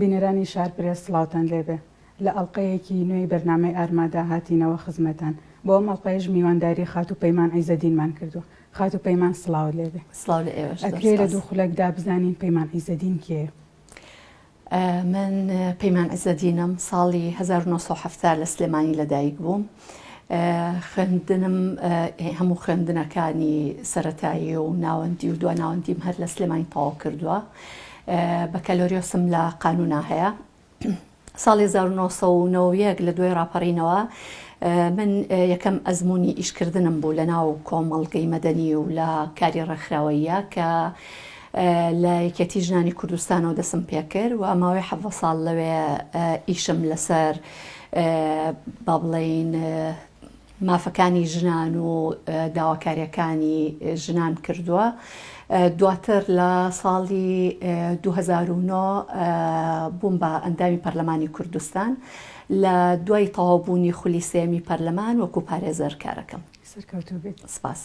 بینەرانی شارپرێس سڵاوتان لێبێ لە ئەڵقەیەکی نوێی بەرنامەی ئارمادا هاتینەوە خزمەتان بۆ ئەم ئەڵقەیەش میوانداری خاتوو پەیمان عیزەدینمان کردووە خاتوو پەیمان سڵاوت لێبێ سڵاو لە ئێوەش زۆر ئەکرێ لە سوپاس. دوو خولەکدا بزانین پەیمان عیزەدین کێیە؟ من پەیمان عیزەدینم ساڵی هەزار و نۆ سەد و حەفتا لە سلێمانی لەدایک بووم، خوێندنم هەموو خوێندنەکانی سەرەتایی و ناوەندی و دواناوەندیم هەر لە سلێمانی تەواو کردووە بەکەلۆریۆسم لە قانونا هەیە ساڵی 1990 لە دوای ڕاپەڕینەوە من یەکەم ئەزمموی ئیشکردنم بوو لە ناو کۆمەڵگەی مەدەنی و لە کاری ڕێکخراوەیە کە لە یەکەتی ژنانی کوردستانەوە دەسم پێکرد و ماوەی حەڤە ساڵ لەوێ ئیشم لەسەر با بڵێین مافەکانی ژنان و داواکاریەکانی ژنان کردووە دواتر لە ساڵی 2009 بووم بە ئەندامی پەرلەمانی کوردستان لە دوای تەواوبوونی خولی سێمی پەرلەمان وەکو پارێزەر کارەکەم سەرکەوتوبێت سپاس.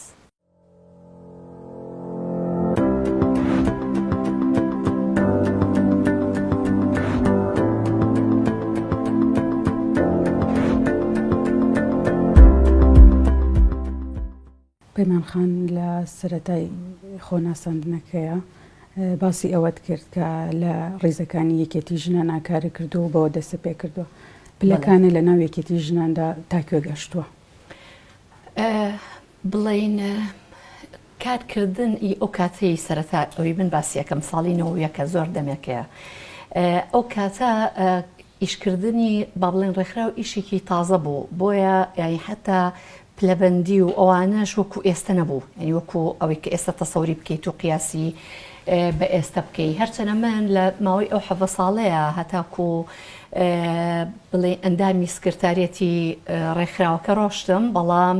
پەیمان خان لە سەرەتای خۆناساندنەکەیە باسی ئەوەت کرد کە لە ڕیزەکانی یەکێتی ژنە ناکارە کردو و بەوە دەسە پێ کردووە پلەکانە لە ناو یەکێتی ژناندا تاکوێ گەشتووە. بڵێین کار کردن ی ئەو کاتەی سەرەتا ئەوی من باسی ئەکەم ساڵی نەوەد و یەک ە زۆر دەمێکەیە ئەو کاتە ئیش کردنی با بڵێین ڕێکخراو ئیشێکی تازە بوو بۆیە یانی حەتا پلەبەندی و ئەوانەش وەکو ئێستە نەبوو یانی وەکو ئەوەی کە ئێستە تەسەوری بکەیت و قیاسی بە ئێستە بکەی هەرچەنە من لە ماوەی ئەو حەڤە ساڵەیە هەتاکو بڵێ ئەندامی سکرتاریەتی ڕێکخراوەکە ڕۆشتم بەڵام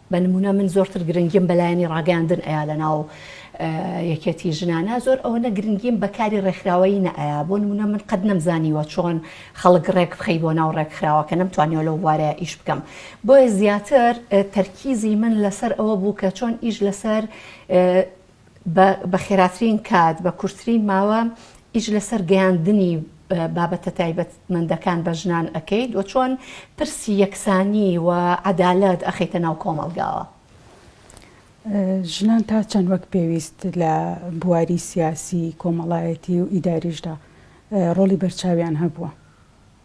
بە نمونە من زۆرتر گرنگیم بە لایەنی ڕاگەیاندن ئەیا لە ناو یەکێتی ژنانا زۆر ئەوەنە گرنگیم بە کاری ڕێکخراوەیی نەئەیا بۆ نمونە من قەت نەمزانیوە چۆن خەڵک ڕێک بخەی بۆ ناو ڕێکخراوە کە نەمتوانیوە لەو بوارەیە ئیش بکەم بۆیە زیاتر تەرکیزی من لەسەر ئەوە بوو کە چۆن ئیش لەسەر بە بە خێراترین کات، بە کورتترین ماوە ئیش لەسەر گەیاندنی بابەتە تایبەتمەندەکان بە ژنان ئەکەیت و چۆن پرسی یەکسانی و عەدالەت ئەخەیتە ناو کۆمەڵگاوە؟ ژنان تا چەند وەک پێویست لە بواری سیاسی، کۆمەڵایەتی و ئیداریشدا ڕۆڵی بەرچاویان هەبووە؟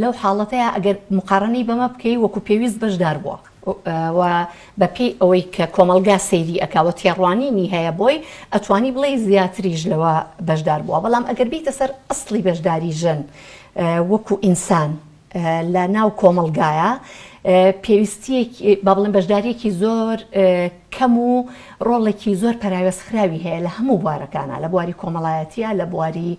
لەو حاڵەتەیا ئەگەر موقارەنەی بەمە بکەی وەکو پێویست بەشدار بووە و بە پێی ئەوەی کە کۆمەڵگا سەیری ئەکا و تێڕوانینی هەیە بۆی ئەتوانی بڵێی زیاتریش لەوە بەشدار بووە بەڵام ئەگەر بیتە سەر ئەسڵی بەشداری ژن وەکو ئینسان لە ناو کۆمەڵگایا پێویستیەکی با بڵێن بەشداریەکی زۆر کەم و ڕۆڵێکی زۆر پەراوێزخراوی هەیە لە هەموو بوارەکانە لە بواری کۆمەڵایەتیە لە بواری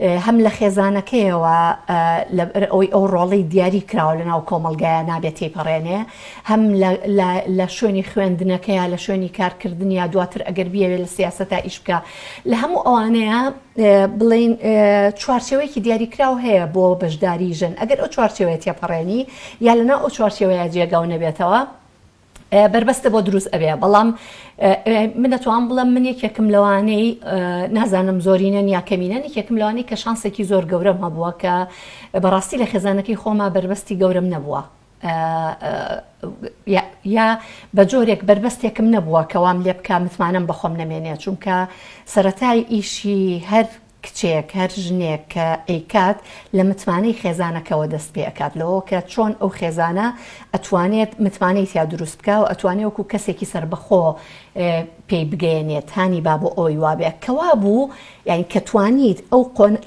هەم لە خێزانەکەیەوە لەبەر ئەوەی ئەو ڕۆڵی دیاری کراوە لەناو کۆمەڵگایە نابێت تێیپەڕێنێ، هەم لە شوێنی خوێندنەکەیا، لە شوێنی کارکردنیا، دواتر ئەگەر بیەوێت لە سیاسەتا ئیش بکا. لە هەموو ئەوانەیا بڵێین چوارچێوەیەکی دیاری کراو هەیە بۆ بەشداری ژن، ئەگەر ئەو چوارچێوەیە تێپەڕێنی یا لەناو ئەو چوارچێوەیە جێگاو نەبێتەوە، بەربەستە بۆ دروست ئەبێ بەڵام من دەتوان بڵم من یەکێکم لەوانەی نازانم زۆرینەن یا کەمینەن یەکێکم لەوانەی کە شانسێکی زۆر گەورەم هەبووە کە بەڕاستی لە خێزانەکەی خۆما بەربەستی گەورم نەبووە یا بە جۆرێک بەربەستێکم نەبووە کەوام لێ بکە متمانەم بەخۆم نەمێنێ چونکە سەتای ئیشی هەر کچێک هەر ژنێک کە ئەیکات لە متمانەی خێزانەکەوە دەست پێ ئەکات لەوەوە کە چۆن ئەو خێزانە ئەتوانێت متمانەی تیا دروست بکا و ئەتوانێ وەکو کەسێکی سەربەخۆ پێی بگەیەنێت هانی با بۆ ئەوەی وابێ کە وابوو یانی کە توانیت ئەو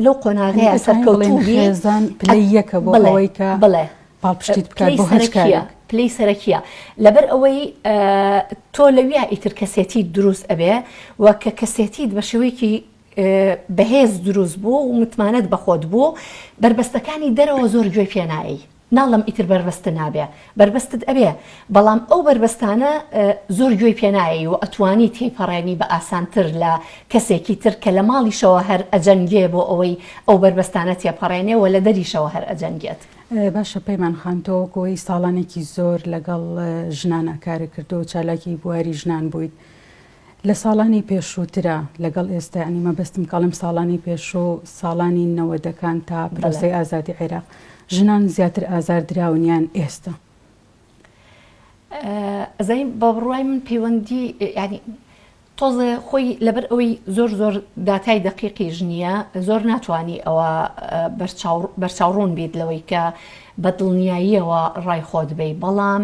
لەو قۆناغەیە سەرکەوتوو بی خێزان پلەی یەکە بۆ ئەوەی کە بڵێ پاڵپشتیت بکات بۆ هەچ کارێک پلەی سەرەکیە لەبەر ئەوەی تۆ لەویا ئیتر کەسێتی دروست ئەبێ و کە کەسێتیت بە شێوەیەکی بەهێز دروست بوو و متمانەت بەخۆت بوو بەربەستەکانی دەرەوە زۆر گوێ پێ نایەی ناڵێم ئیتر بەربەست نابێ بەربەستت ئەبێ بەڵام ئەو بەربەستانە زۆر گوێی پێ نایەی و ئەتوانی تێیپەڕێنی بە ئاسانتر لە کەسێکی تر کە لە ماڵیشەوە هەر ئەجەنگێ بۆ ئەوەی ئەو بەربەستانە تێپەڕێنێ و لە دەریشەوە هەر ئەجەنگێت. باشە پەیمان خان تۆ وەکو ئەوەی ساڵانێکی زۆر لەگەڵ ژنان ئاکارت کردووە و چالاکی بواری ژنان بوویت لە ساڵانی پێشوو ترە لەگەڵ ئێستا یانی مەبەستم کە ئەڵێم ساڵانی پێشوو ساڵانی نەوەدەکان تا پرۆسەی ئازادی عێراق ژنان زیاتر ئازار دراون یان ئێستا؟ ئەزانی بە بڕوای من پەیوەندی یانی تۆزێ خۆی لەبەر ئەوەی زۆر زۆر داتای دەقیقی ژنیە زۆر ناتوانانی ئەوە بەرچاوڕون بیت لەوەی کە بە دڵنیاییەوە ڕای خۆت بی بەڵام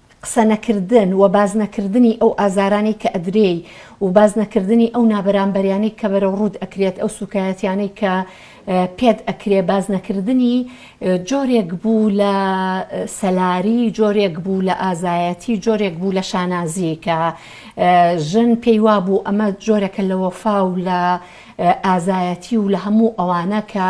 قسە نەکردن و باس نەکردنی ئەو ئازارانەی کە ئەدرێی و باس نەکردنی ئەو نابەرامبەریانەی کە بەرەو ڕووت ئەکرێت ئەو سوکایەتیانەی کە پێت ئەکرێ باس نەکردنی جۆرێک بوو لە سەلاری جۆرێک بوو لە ئازایەتی جۆرێک بوو لە شانازی کە ژن پێی وابوو ئەمە جۆرەکە لە وەفا و لە ئازایەتی و لە هەموو ئەوانە کە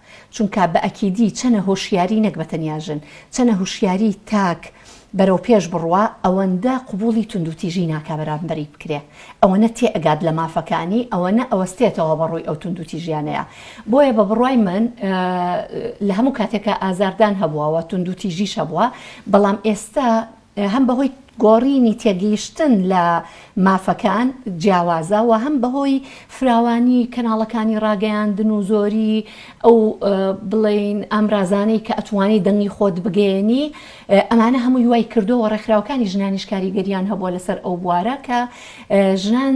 چونکا بە ئەکیدی چەنە هۆشیاری نەک بە تەنیا ژن، چەنە هوشیاری تاک بەرەو پێش بڕوا ئەوەندە قبوڵی توندوتیژی ناکا بەرامبەری بکرێ، ئەوەنە تێ ئەگات لە مافەکانی ئەوەنە ئەوەستێتەوە بە ڕووی ئەو توندوتیژیانەیا. بۆیە بە بڕوای من لە هەموو کاتێکا ئازاردان هەبوە و توندوتیژیش هەبوە بەڵام ئێستا هەم بەهۆی گۆڕینی تێگەیشتن لە مافەکان جیاوازە و هەم بەهۆی فراوانی کەناڵەکانی ڕاگەیاندن و زۆری ئەو بڵێین ئامرازانەی کە ئەتوانی دەنگی خۆت بگەیەنی ئەمانە هەمووی وای کردووە ڕێکخراوەکانی ژنانیش کاریگەریان هەبووە لەسەر ئەو بوارە کە ژنان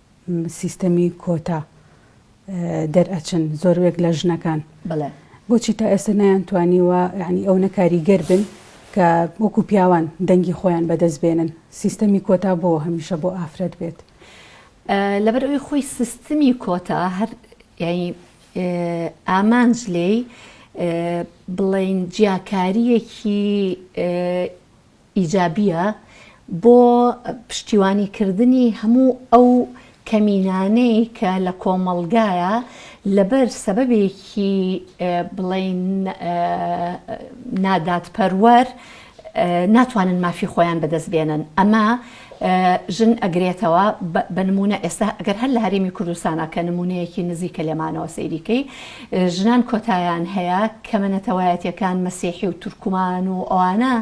سیستەمی کۆتا دەرئەچن زۆروێک لە ژنەکان بۆچی تا ئێستا نەیان توانیوە ینی ئەو نەکاریگەر بن کە وەکو پیاوان دەنگی خۆیان بەدەست بێنن سیستەمی کۆتا بۆ هەمیشە بۆ ئافرەت بێت لەبەر ئەوی خۆی سیستمی کۆتا هەر یعنی ئامانج لێی بڵین جیاکاریەکی ئیجابیە بۆ پشتیوانی کردنی هەموو ئەو کەمینانەی کە لە کۆمەڵگایە لەبەر سەبەبێکی بڵێین نادادپەروەر ناتوانن مافی خۆیان بەدەست بێنن ئەمە ژن ئەگرێتەوە بە نموونە ئێستا ئەگەر هەر لە هەرێمی کوردستانا کە نموونەیەکی نزیکە لێمانەوە سەیری کەی ژنان کۆتایان هەیە کەمە نەتەوایەتیەکان مەسیحی و تورکمان و ئەوانە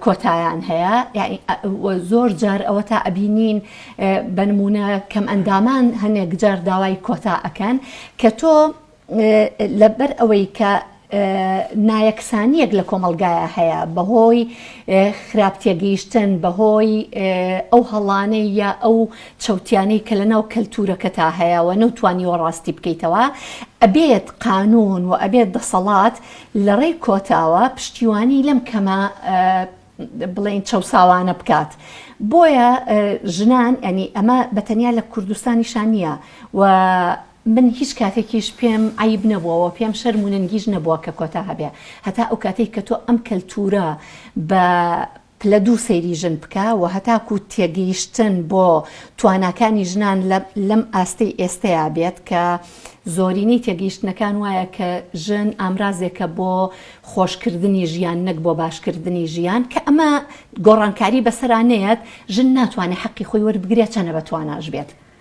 کۆتایان هەیە زۆر جار ئەوە تا ئەبینین بە نموونە کەم ئەندامان هەنێک جار داوای کۆتا ئەکەن کە تۆ لەبەر ئەوەی کە نایەکسانییەک لە کۆمەڵگایا هەیە بەهۆی خراپ تێگەیشتن، بەهۆی ئەو هەڵانەی یا ئەو چەوتیانەی کە لەناو کەلتوورەکەتا هەیە و نەوتوانیوە ڕاستی بکەیتەوە، ئەبێت قانوون و ئەبێت دەسەڵات لەڕێی کۆتاوە پشتیوانی لەم کەمە بڵێین چەوساوانە بکات. بۆیە ژنان یانی ئەمە بە تەنیا لە کوردستانیشا نییە و من هیچ کاتێکیش پێم عەیب نەبووە و پێم شەرم و نەنگیش نەبووە کە کۆتا هەبێ هەتا ئەو کاتەی کە تۆ ئەم کەلتوورە بە پلە دوو سەیری ژن بکە و هەتاکو تێگەیشتن بۆ تواناکانی ژنان لەم ئاستەی ئێستەیا بێت کە زۆرینەی تێگەیشتنەکان وایە کە ژن ئامرازێکە بۆ خۆشکردنی ژیان نەک بۆ باشکردنی ژیان کە ئەمە گۆڕانکاری بەسەرا نەیەت ژن ناتوانێ حەقی خۆی وەربگرێ چەنە بە تواناش بێت.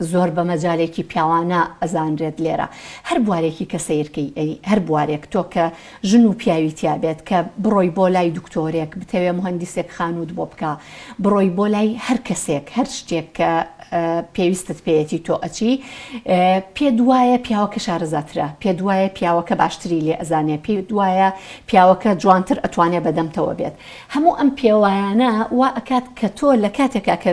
زۆر بە مەجالێکی پیاوانە ئەزانرێت لێرە هەر بوارێکی کە سەیر کەی ئەی هەر بوارێک تۆ کە ژن و پیاوی تیا بێت کە بڕۆی بۆ لای دکتۆرێک بتەوێ مهندیسێک خانووت بۆ بکا بڕۆی بۆ لای هەر کەسێک هەر شتێک کە پێویستت پێیەتی تۆ ئەچی پێ دوایە پیاوەکە شارەزاترە پێ دوایە پیاوەکە باشتری لێ ئەزانێ پێ دوایە پیاوەکە جوانتر ئەتوانێ بەدەمتەوە بێت هەموو ئەم پێوایانە وا ئەکات کە تۆ لە کاتێکا کە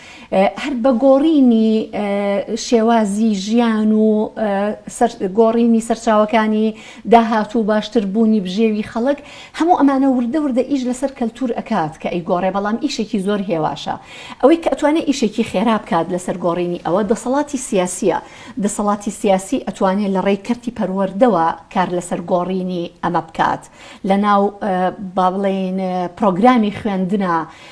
هەر بە گۆڕینی شێوازی ژیان و گۆڕینی سەرچاوەکانی داهات و باشتر بوونی بژێوی خەڵک هەموو ئەمانە وردە وردە ئیش لەسەر کەلتور ئەکات کە ئەیگۆڕێ بەڵام ئیشێکی زۆر هێواشە ئەوەی کە ئەتوانێ ئیشێکی خێرا بکات لەسەر گۆڕینی ئەوە دەسەڵاتی سیاسیە دەسەڵاتی سیاسی ئەتوانێ لە ڕێی کەرتی پەروەردەوە کار لەسەر گۆڕینی ئەمە بکات لە ناو با بڵێین پڕۆگرامی خوێندنا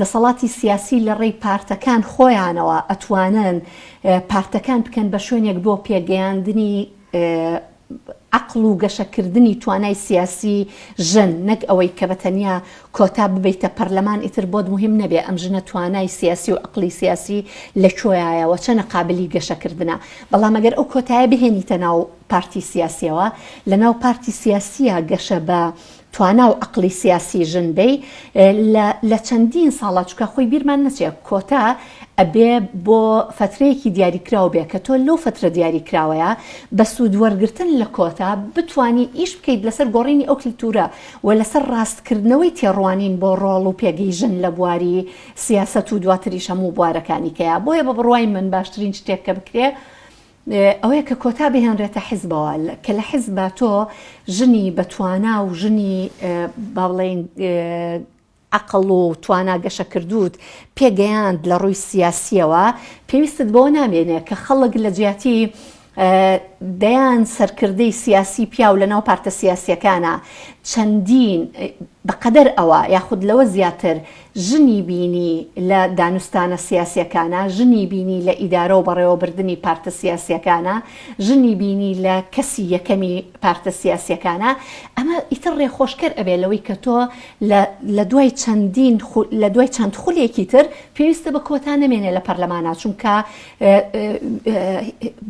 دەسەڵاتی سیاسی لە ڕێی پارتەکان خۆیانەوە ئەتوانن پارتەکان بکەن بە شوێنێک بۆ پێگەیاندنی عەقڵ و گەشەکردنی توانای سیاسی ژن نەک ئەوەی کە بە تەنیا کۆتا ببەیتە پەرلەمان ئیتر بۆت موهیم نەبێ ئەم ژنە توانای سیاسی و عەقڵی سیاسی لە کۆیایە وە چەنە قابلی گەشەکردنە بەڵام ئەگەر ئەو کۆتایە بهێنیتە ناو پارتی سیاسیەوە لە ناو پارتی سیاسیە گەشە بە توانا و عەقڵی سیاسی ژن بی لە لە چەندین ساڵە چونکە خۆی بیرمان نەچێ کۆتا ئەبێ بۆ فەترەیەکی دیاریکراو بێ کە تۆ لەو فەترە دیاریکراوەیە بە سوود وەرگرتن لە کۆتا بتوانی ئیش بکەیت لەسەر گۆڕینی ئەو کلتوورە و لەسەر ڕاست کردنەوەی تێڕوانین بۆ ڕۆڵ و پێگەی ژن لە بواری سیاسەت و دواتریش هەموو بوارەکانی کەیە بۆیە بە بڕوای من باشترین شتێک کە بکرێ ئەوەیە کە کۆتا بهێنرێتە حزبەوە کە لە حزبا تۆ ژنی بە توانا و ژنی با بڵێین عەقڵ و توانا گەشەکردووت پێگەیاند لە ڕووی سیاسیەوە پێویستت بۆ نامێنێ کە خەڵک لە جیاتی دەیان سەرکردەی سیاسی پیاو لەناو پارتە سیاسیەکانە چەندین بەقەدەر ئەوە یاخود لەوە زیاتر ژنی بینی لە دانوستانە سیاسییەکانە، ژنی بینی لە ئیدارە و بەڕێوەبردنی پارتە سیاسییەکانە، ژنی بینی لە کەسی یەکەمی پارتە سیاسییەکانە، ئەمە ئیتر ڕێخۆشکەر ئەبێت لەوەی کە تۆ لە لە دوای چەندین لە دوای چەند خولێکی تر پێویستە بە کۆتا نەمێنێ لە پەرلەمانا چونکە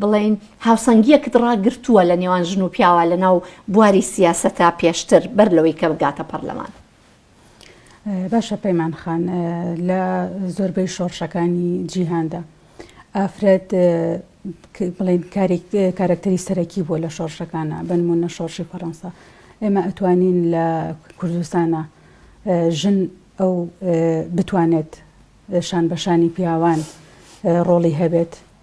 بڵێین هاوسەنگیەکت ڕاگرتووە لە نێوان ژن و پیاوە لە ناو بواری سیاسەتا پێشتر بەر لەوەی کە بگاتە پەرلەمان. باشە پەیمان خان لە زۆربەی شۆڕشەکانی جیهاندا ئافرەت بڵێن کارەکتەری سەرەکی بووە لە شۆڕشەکانە بنمونە شۆڕشی فەڕەنسا ئێمە ئەتوانین لە کوردستانە ژن ئەو بتوانێت شان بەشانی پیاوان ڕۆڵی هەبێت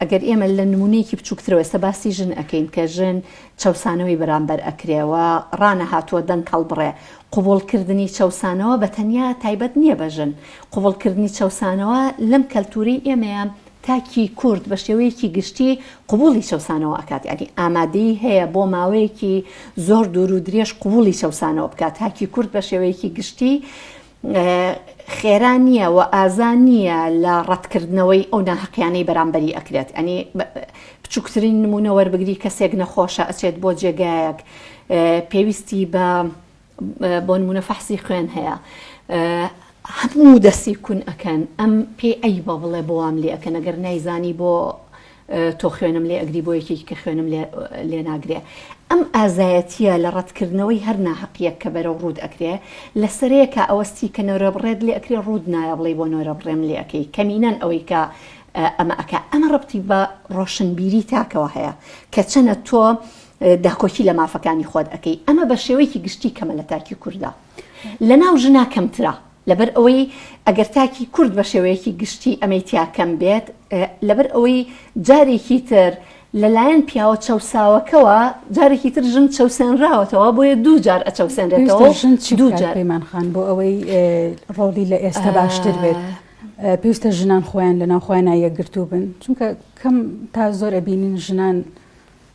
ئەگەر ئێمە لە نموونەیەکی بچووکترەوە ئێستا باسی ژن ئەکەین کە ژن چەوسانەوەی بەرامبەر ئەکرێ و ڕانەهاتووە دەنگ هەڵبڕێ، قبووڵکردنی چەوسانەوە بە تەنیا تایبەت نییە بە ژن، قبووڵکردنی چەوسانەوە لەم کەلتوورەی ئێمەیە تاکی کورد بە شێوەیەکی گشتی قبووڵی چەوسانەوە ئەکات یانی ئامادەیی هەیە بۆ ماوەیەکی زۆر دوور و درێژ قبووڵی چەوسانەوە بکات، تاکی کورد بە شێوەیەکی گشتی خێرا نیە وە ئازا نیە لە ڕەتکردنەوەی ئەو ناهەقیانەی بەرامبەری ئەکرێت یانی بچوکترین نمونە وەربگری کەسێک نەخۆشە ئەچێت بۆ جێگایەک پێویستی بە بۆ نمونە فەحسی خوێن هەیە هەموو دەسی کون ئەکەن ئەم پێی ئەی بە بڵێ بۆوام لێ ئەکەن ئەگەر نایزانی بۆ تۆ خوێنم لێ ئەگری بۆ یەکێکی کە خوێنم لێ ناگرێ ئەم ئازایەتیە لە ڕەتکردنەوەی هەر ناهەقیەک کە بەرەو ڕووت ئەکرێ لە سەرەیەکا ئەوە ستی کە نۆرە بڕێت لێ ئەکرێ ڕووت نایە بڵێی بۆ نۆرە بڕێم لێ ئەکەی کەمینەن ئەوەی کە ئەمە ئەکا ئەمە ڕەبتی بە ڕۆشنبیری تاکەوە هەیە کە چەنە تۆ داکۆکی لە مافەکانی خۆت ئەکەی ئەمە بە شێوەیەکی گشتی کەمە لە تاکی کوردە لە ناو ژنا کەمترە لەبەر ئەوەی ئەگەر تاکی کورد بە شێوەیەکی گشتی ئەمەی تیا کەم بێت، لەبەر ئەوەی جارێکی تر لە لایەن پیاوە چەوساوەکەوە جارێکی تر ژن چەوسێنراوەتەوە بۆیە دوو جار ئەچەوسێنرێتەوە ژن چ دوو جار پەیمان خان بۆ ئەوەی ڕۆڵی لە ئێستا باشتر بێت. پێویستە ژنان خۆیان لە ناوخۆیان یەکگرتوو بن چونکە کەم تا زۆر ئەبینین ژنان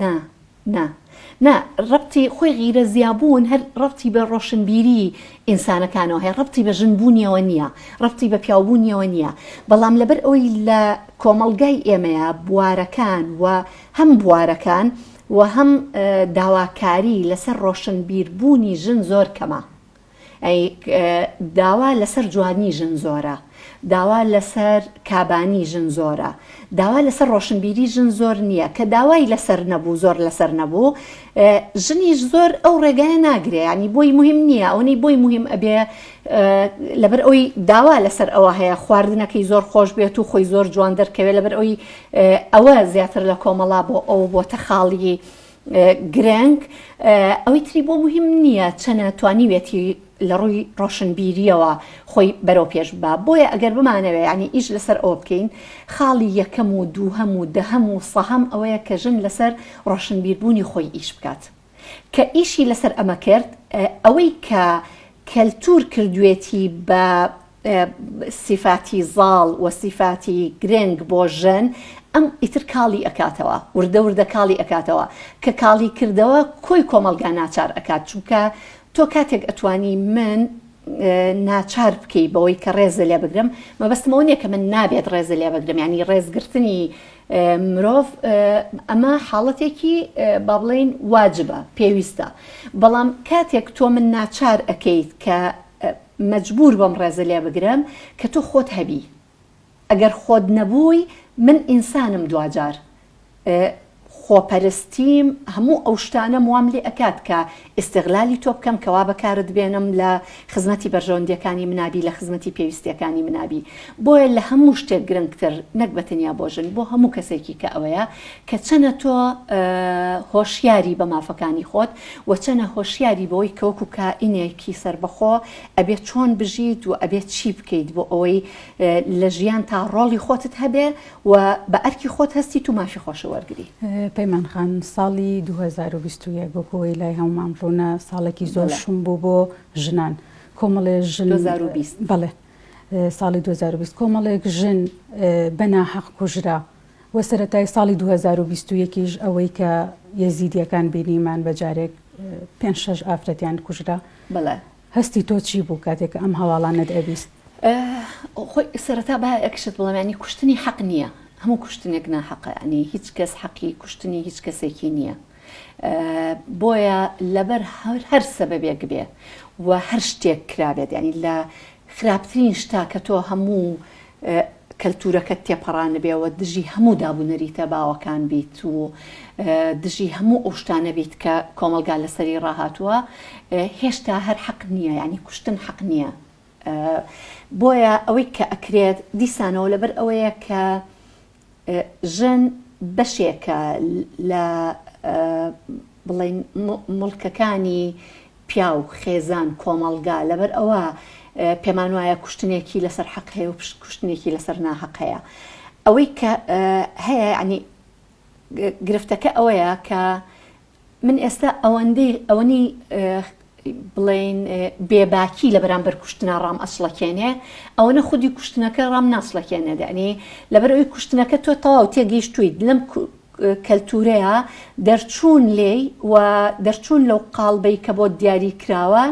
نا نا نا ڕەبتی خۆی غیرە زیابوون هەر ڕەبتی بە ڕۆشنبیری ئینسانەکانەوە هەیە ڕەبتی بە ژن بوونیەوە نییە ڕەبتی بە پیاوبوونیەوە نییە بەڵام لەبەر ئەوی لە کۆمەڵگای ئێمەیە بوارەکان و هەم بوارەکان و هەم داواکاری لەسەر ڕۆشنبیربوونی ژن زۆر کەمە ئەی داوا لەسەر جوانی ژن زۆرە داوا لەسەر کابانی ژن زۆرە داوا لەسەر ڕۆشنبیری ژن زۆر نییە کە داوای لەسەر نەبوو زۆر لەسەر نەبوو ژنیش زۆر ئەو ڕێگای ناگرێ ینی بۆی مهم نییە ئەوەی بۆی مهم ئەبێ لەبەر ئەوی داوا لەسەر ئەوە هەیە خواردنەکەی زۆر خۆش بێت و خۆی زۆر جوان دەرکەوێت لەبەر ئەوی ئەوە زیاتر لە کۆمەڵا بۆ ئەو بۆتە خاڵی گرنگ، ئەوەی تری بۆ موهیم نییە چەنە توانیویەتی لە ڕووی ڕۆشنبیرییەوە خۆی بەرەو پێش ببا، بۆیە ئەگەر بمانەوێ یانی ئیش لەسەر ئەوە بکەین خاڵی یەکەم و دووهەم و دەهەم و سەهەم ئەوەیە کە ژن لەسەر ڕۆشنبیربوونی خۆی ئیش بکات کە ئیشی لەسەر ئەمە کرد ئەوەی کە کەلتور کردوێتی بە سیفاتی زاڵ و سیفاتی گرنگ بۆ ژن ئەم ئیتر کاڵی ئەکاتەوە وردە وردە کاڵی ئەکاتەوە کە کاڵی کردەوە کۆی کۆمەڵگا ناچار ئەکات چونکە تۆ کاتێک ئەتوانی من ناچار بکەی بەوەی کە ڕێزە لێ بگرم مەبەستمەوە نیە کە من نابێت ڕێزە لێ بگرم ینی ڕێزگرتنی مرۆڤ ئەمە حاڵەتێکی با بڵێین واجبە پێویستە بەڵام کاتێک تۆ من ناچار ئەکەیت کە مەجبور بەم ڕێزە لێ بگرم کە تۆ خۆت هەبی ئەگەر خۆت نەبووی من ئینسانم دواجار خۆپەرستیم هەموو ئەو شتانەم وام لێ ئەکات کە ئیستغلالی تۆ بکەم کە وا بەکارت بێنم لە خزمەتی بەرژەوەندیەکانی منابی لە خزمەتی پێویستیەکانی منابی بۆیە لە هەموو شتێک گرنگتر نەک بە تەنیا بۆ ژن بۆ هەموو کەسێکی کە ئەوەیە کە چەنە تۆ هۆشیاری بە مافەکانی خۆت و چەنە هۆشیاری بەوەی کەوەکو کائینێکی سەربەخۆ ئەبێت چۆن بژیت و ئەبێت چی بکەیت بۆ ئەوەی لە ژیان تا ڕۆڵی خۆتت هەبێ و بە ئەرکی خۆت هەستیت و مافی خۆشە وەرگری. پەیمان خان ساڵی دوو هەزار و بیست و یەک وەکو ئەوەی لای هەموومان ڕوونە ساڵێکی زۆر شوم بوو بۆ ژنان کۆمەڵێ ژن دوو هەزار و بیست بەڵێ ساڵی دوو هەزار و بیست کۆمەڵێک ژن بە ناحەق کوژرا و سەرەتای ساڵی دوو هەزار و بیست و یەک یش ئەوەی کە یەزیدییەکان بینیمان بە جارێک پێنج شەش ئافرەتیان کوژرا بەڵێ هەستی تۆ چی بوو کاتێک کە ئەم هەواڵانەت ئەبیست؟ خۆی سەرەتا با یەکشت بڵێم یانی کوشتنی حەق نییە هەموو کوشتنێک ناحەقە یانی هیچ کەس حەقی کوشتنی هیچ کەسێکی نییە بۆیە لەبەر هەر هەر سەبەبێک بێ و هەر شتێک کرابێت یانی لە خراپترین شتا کە تۆ هەموو کەلتوورەکەت تێپەڕاندبێ و دژی هەموو داب و نەریتە باوەکان بیت و دژی هەموو ئەو شتانە بیت کە کۆمەڵگا لەسەری ڕاهاتووە هێشتا هەر حەق نییە یانی کوشتن حەق نییە بۆیە ئەوەی کە ئەکرێت دیسانەوە لەبەر ئەوەیە کە ژن بەشێکە لە بڵێین موڵکەکانی پیاو، خێزان، کۆمەڵگا، لەبەرئەوە پێمان وایە کوشتنێکی لەسەر حەق هەیە و کوشتنێکی لەسەر ناهەق هەیە. ئەوەی کە هەیە یانی گرفتەکە ئەوەیە کە من ئێستا ئەوەندەی ئەوەنی بڵێین بێباکی لە بەرامبەر کوشتنا ڕام ئەسڵەکێنێ ئەوەنە خودی کوشتنەکە ڕام ناسڵەکێنێ دەنی لەبەر ئەوی کوشتنەکە تۆ تەواو تێگەیشتویت لەم کەلتورەیە دەرچوون لێی و دەرچوون لەو قاڵبەی کە بۆ دیاری کراوە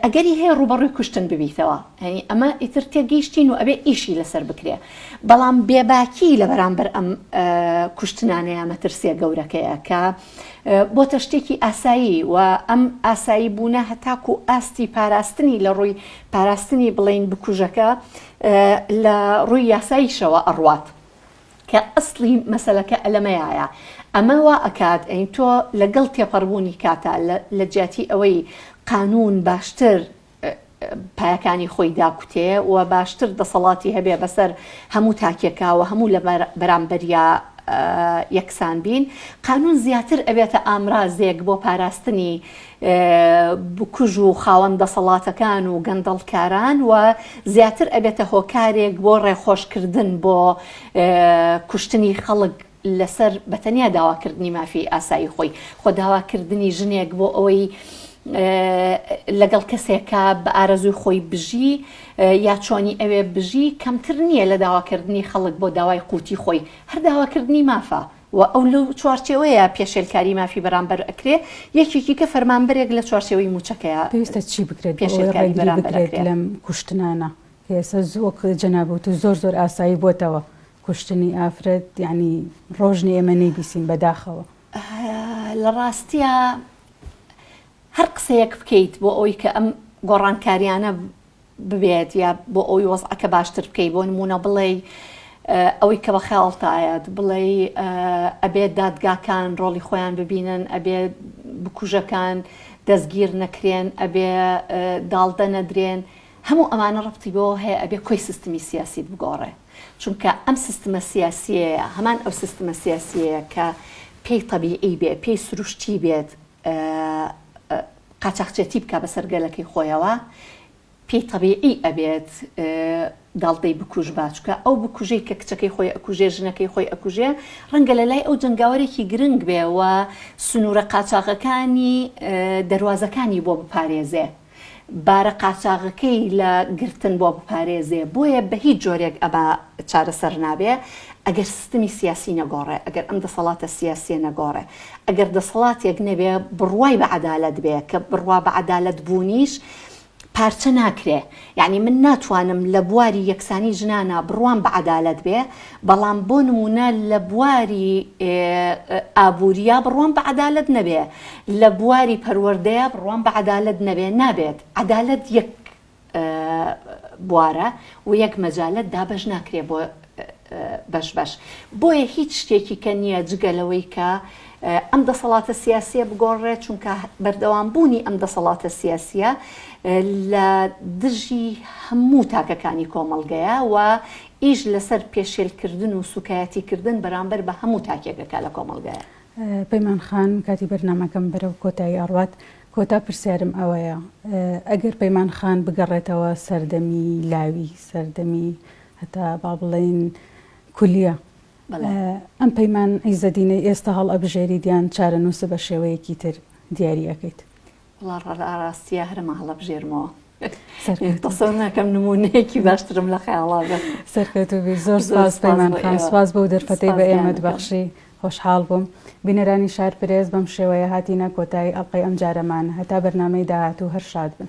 ئەگەری هەیە ڕووبەڕووی کوشتن ببیتەوە یانی ئەمە ئیتر تێگەیشتین و ئەبێ ئیشی لەسەر بکرێ بەڵام بێباکی لە بەرامبەر ئەم کوشتنانەیە مەترسیە گەورەکەیە کە بۆتە شتێکی ئاسایی و ئەم ئاسایی بوونە هەتاکو ئاستی پاراستنی لە ڕووی پاراستنی بڵین بکوژەکە لە ڕووی یاساییشەوە ئەڕوات کە ئەسڵی مەسەلەکە لەمەیایە ئەمە وا ئەکات ئەی تۆ لەگەڵ تێپەڕبوونی کاتا لە جیاتی ئەوەی قانوون باشتر پایەکانی خۆی داکوتێ و باشتر دەسەڵاتی هەبێ بەسەر هەموو تاکێکا و هەموو لە بەرامبەریا یەکسان بین قانوون زیاتر ئەبێتە ئامرازێک بۆ پاراستنی بکوژ و خاوەن دەسەڵاتەکان و گەندەڵکاران و زیاتر ئەبێتە هۆکارێک بۆ ڕێخۆشکردن بۆ کوشتنی خەڵک لەسەر بەتەنیا داواکردنی مافی ئاسایی خۆی خۆ داواکردنی ژنێک بۆ ئەوەی لەگەڵ کەسێکە بە ئارەزوی خۆی بژی یا چۆنی ئەوێ بژی کەمتر نییە لە داواکردنی خەڵک بۆ داوای قوتی خۆی هەر داواکردنی مافە و ئەو لەو چوارچێوەیە پێشێلکاری مافی بەرامبەر ئەکرێ، یەکێکی کە فەرمانبەرێک لە چوارچێوەی مووچەکەیا پێویستە چی بکرێت بۆ ئەوەی پێشێلکاری ڕێگری بەرامبەر بکرێت ئەکرێ. لەم کوشتنانە؟ کە ئێستا زۆ وەک جەنابی وتو زۆر زۆر ئاسایی بۆتەوە کوشتنی ئافرەت، یەعنی ڕۆژ نیە ئێمە نەیبیسین بەداخەوە. لە ڕاستیا هەر قسەیەک بکەیت بۆ ئەوەی کە ئەم گۆڕانکاریانە، ببێت یا بۆ ئەوی وەزعەکە باشتر بکەی بۆ نمونە بڵێی ئەوەی کە بەخەیاڵتایەت بڵێی ئەبێت دادگاکان ڕۆڵی خۆیان ببینن ئەبێ بکوژەکان دەستگیر نەکرێن ئەبێ داڵدە نەدرێن هەموو ئەمانە ڕەبتی بۆ هەیە ئەبێ کۆی سیستمی سیاسیت بگۆڕێ چونکە ئەم سیستمە سیاسیەیە هەمان ئەو سیستمە سیاسیەیە کە پێی طبیعی بێ پێی سروشتی بێت قاچاخچێتی بکا بەسەر گەلەکەی خۆیەوە پێی تەبیعی ئەبێت داڵدەی بکوژ با چکە ئەو بکوژەی کە کچەکەی خۆی ئەکوژێ ژنەکەی خۆی ئەکوژێ ڕەنگە لە لای ئەو جنگاوەرێکی گرنگ بێ و سنوورە قاچاغەکانی دەواازەکانی بۆ بپارێزێ بارە قاچاغەکەی لە گرتن بۆ بپارێزێ بۆیە بە هیچ جۆرێک ئەبا چارەسەر نابێ ئەگەر سیستمی سیاسی نەگۆڕێ ئەگەر ئەم دەسەڵاتە سیاسیە نەگۆڕێ ئەگەر دەسەڵاتێک نەبێ بڕوای بە عەدالەت بێ کە بڕوا بە عەدالەت بوونیش پارچە ناکرێ یانی من ناتوانم لە بواری یەکسانی ژنانا بڕوام بە عەدالەت بێ بەڵام بۆ نمونە لە بواری ئابووریا بڕوام بە عەدالەت نەبێ لە بواری پەروەردەیە بڕوام بە عەدالەت نەبێ نابێت عەدالەت یەک بوارە و یەک مەجالت دابەش ناکرێ بۆ بەش بەش بۆیە هیچ شتێکی کە نییە جگە لەوەی کە ئەم دەسەڵاتە سیاسیە بگۆڕێ چونکە بەردەوام بوونی ئەم دەسەڵاتە سیاسیە لە دژی هەموو تاکەکانی کۆمەڵگەیە و ئیش لەسەر پێشێلکردن و سوکایەتیکردن بەرامبەر بە هەموو تاکێکەکە لە کۆمەڵگەیە پەیمان خان کاتی بەرنمەکەم بەرەو کۆتایی ئەڕات کۆتا پرسیارم ئەوەیە ئەگەر پەیمان خان بگەڕێتەوە سەردەمی لاوی سەردەمی هەتا با بڵێین کولیە ئەم پەیمان عیزەدینەی ئێستا هەڵئەبژێریت یان چارەنووسە بە شێوەیەکی تر دیاری ئەکەیت؟ وەڵا ڕاستیە هەرەمە هەڵەبژێرمەوە تەسەور ناکەم نمونەیەکی باشترم لە خەیاڵا بێت سەرکەوتوو بی زۆر زۆر سپاس سپاس پەیمان بۆ خان ئێوە. سپاس بەو دەرفەتەی بە سپاس ئێمەت گیانەکەم. بەخشی خۆشحاڵ بووم بینەرانی شار پرێس بەم شێوەیە هاتینە کۆتایی ئەڵقەی ئەمجارەمان هەتا بەرنامەی داهاتوو هەر شاد بن.